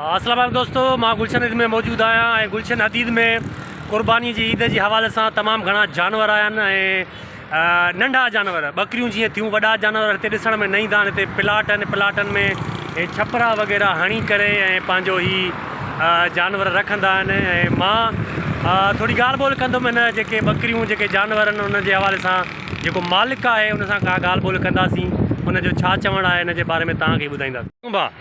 اسلام عليڪم دوستو مان گلشن حديد ۾ موجود آهيان ۽ گلشن حديد ۾ قرباني جي عيد جي حوالي سان تمام گهڻا جانور آيا آهن ۽ ننڍا جانور ٻڪريون جيئن ٿيون وڏا جانور هتي ڏسڻ ۾ نه ايندا آهن هتي پلاٽ آهن پلاٽن ۾ هي ڇپرا وغيره هڻي ڪري ۽ پنهنجو هي جانور رکندا آهن ۽ مان ٿوري ڳالهه ٻولهه ڪندم هن جيڪي ٻڪريون جيڪي جانور آهن ان جي حوالي سان جيڪو مالڪ آهي ان سان ڪا ڳالهه ٻولهه ڪنداسين ان جو ڇا چوڻ آهي ان جي باري ۾ تهان کي ٻڌائينداسين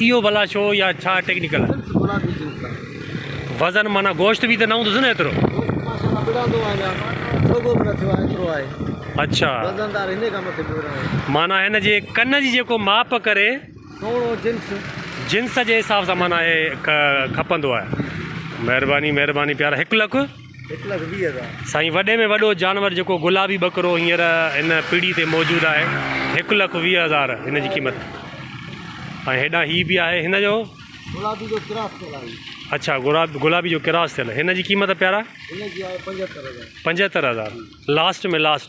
اهو ڀلا ڇو يا ڇا ٽيڪنيڪل وزن معنيٰ گوشت به ته نه هوندس نه ايترو اڇا معنيٰ هن جي ڪن جي جيڪو ماپ ڪري جنس جي حساب سان معنيٰ کپندو آهي مهرباني مهرباني پيارا هڪ لک هڪ لک ويهه هزار. سائين وڏي ۾ وڏو جانور جيڪو گلابي ٻڪرو هينئر هن پيڙهي تي موجود آهي هڪ لک ويهه هزار هن جي قيمت ۽ هيڏانهن هي به آهي هن جو گلابي جو ڪراس ٿيل آهي اڇا گلابي جو ڪراس ٿيل هن جي قيمت پيارا هن جي آهي پنجهتر هزار پنجهتر هزار لاسٽ ۾ لاسٽ.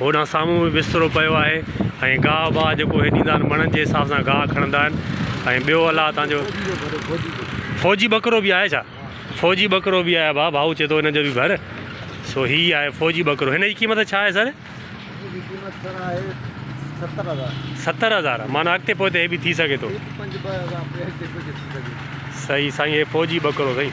هوڏانهن سامهون به بسترو پيو آهي ۽ گاهه باهه جيڪو هي ڏيندا آهن مڻن جي حساب سان گاهه کڻندا آهن ۽ ٻيو الله تان جو فوجي ٻڪرو به آهي ڇا فوجي ٻڪرو به آهي ڀا ڀائو چي ٿو هن جو به ڀر سو هي آهي فوجي ٻڪرو هن جي قيمت ڇا آهي سر ستر هزار معنيٰ اڳتي پوئتي هي به ٿي سگهي ٿو صحيح سائين هي فوجي ٻڪرو سائين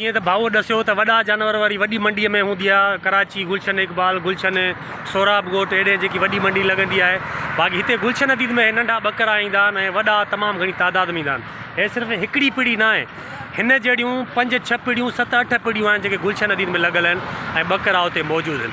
جيئن ته ڀائوء ڏسيو ته وڏا جانور واري وڏي منڊيء ۾ هوندي آهي ڪراچي گلشن اقبال گلشن سهراب ڳوٺ اهڙي جيڪي وڏي منڊي لڳندي آهي باقي هتي گلشن عديد ۾ ننڍا ٻڪرا ايندا آهن ۽ وڏا تمام گهڻي تعداد ۾ ايندا آهن هي صرف هڪڙي پڙي ناهي هن جهڙيون پنج ڇهه پڙيون ست اٺ پڙيون آهن جيڪي گلشن عديد ۾ لڳل آهن ۽ ٻڪرا اتي موجود آهن